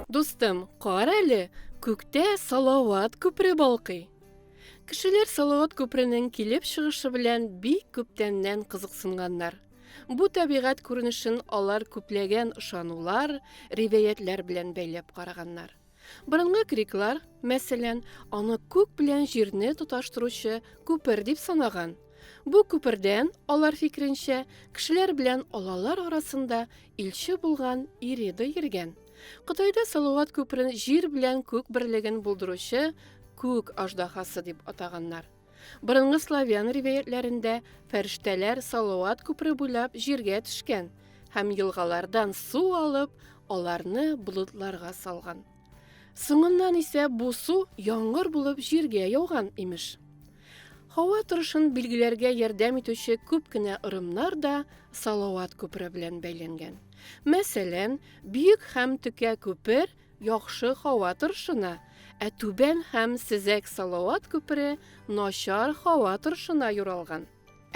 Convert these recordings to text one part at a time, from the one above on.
Дустым, кара әле, күктә Салават күпре балкый. Кешеләр Салават күпренең килеп чыгышы белән бик күптәннән кызыксынганнар. Бу табигать күренешен алар күпләгән ышанулар, ривәятләр белән бәйләп караганнар. Борынгы греклар, мәсәлән, аны күк белән җирне тоташтыручы күпер дип санаган. Бу күпердән, алар фикеренчә, кешеләр белән алалар арасында илче булган Ирида йөргән. Кытайда Салават күперен җир белән күк берлеген булдыручы күк аждаһасы дип атаганнар. Борынгы славян ривәятләрендә фәрештәләр Салават күпре буйлап җиргә төшкән һәм елгалардан су алып, аларны болытларга салган. Соңыннан исә бу су яңгыр булып җиргә яуган, имеш. Һава торышын билгеләргә ярдәм итүче күп кенә ырымнар да Салават күпре белән бәйләнгән. Мәсәлән, Бөек һәм Төкә күпер Яхшы һава торышына, ә Түбән һәм Сезәк Салават күпере начар һава торышына юралган.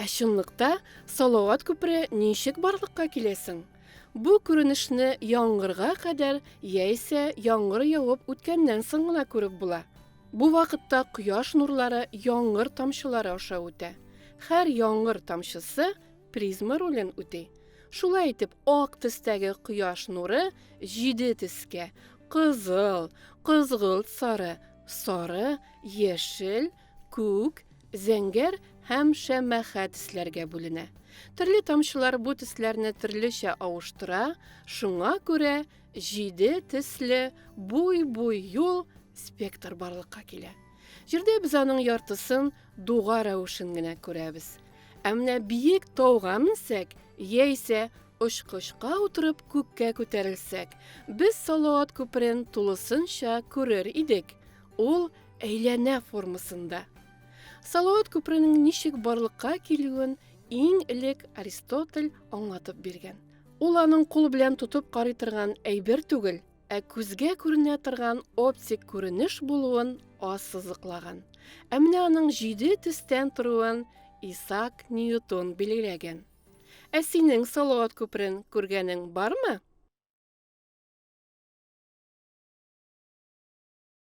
Ә чынлыкта Салават күпере ничек барлыкка килә соң? Бу күренешне яңгырга кадәр яисә яңгыр явып үткәннән соң гына күреп була. Бу вакытта кояш нурлары яңгыр тамчылары аша үтә. Һәр яңгыр тамчысы Призма ролен үти. Шулай итеп, ак төстәге кояш нуры җиде төскә, кызыл, кызгылт сары, сары, яшел, күк, зәңгәр һәм шәмәхә төсләргә бүленә. Төрле тамчылар бу төсләрне төрлечә авыштыра, шуңа күрә җиде төсле буй-буй юл спектр барлыкка килә. Җирдә без аның яртысын дуга рәвешен генә күрәбез. Ә менә биек тауга менсәк, яисә очкычка утырып күккә күтәрелсәк, без Салават күперен тулысынча күрер идек. Ул әйләнә формасында. Салават күперенең ничек барлыкка килүен иң элек Аристотель аңлатып биргән. Ул аның кул белән тотып карый торган әйбер түгел, Ә күзгә күренә торган оптик күренеш булуын ассызыклаган. Ә менә аның җиде төстән торуын Исаак Ньютон билгеләгән. Ә синең Салават күперен күргәнең бармы?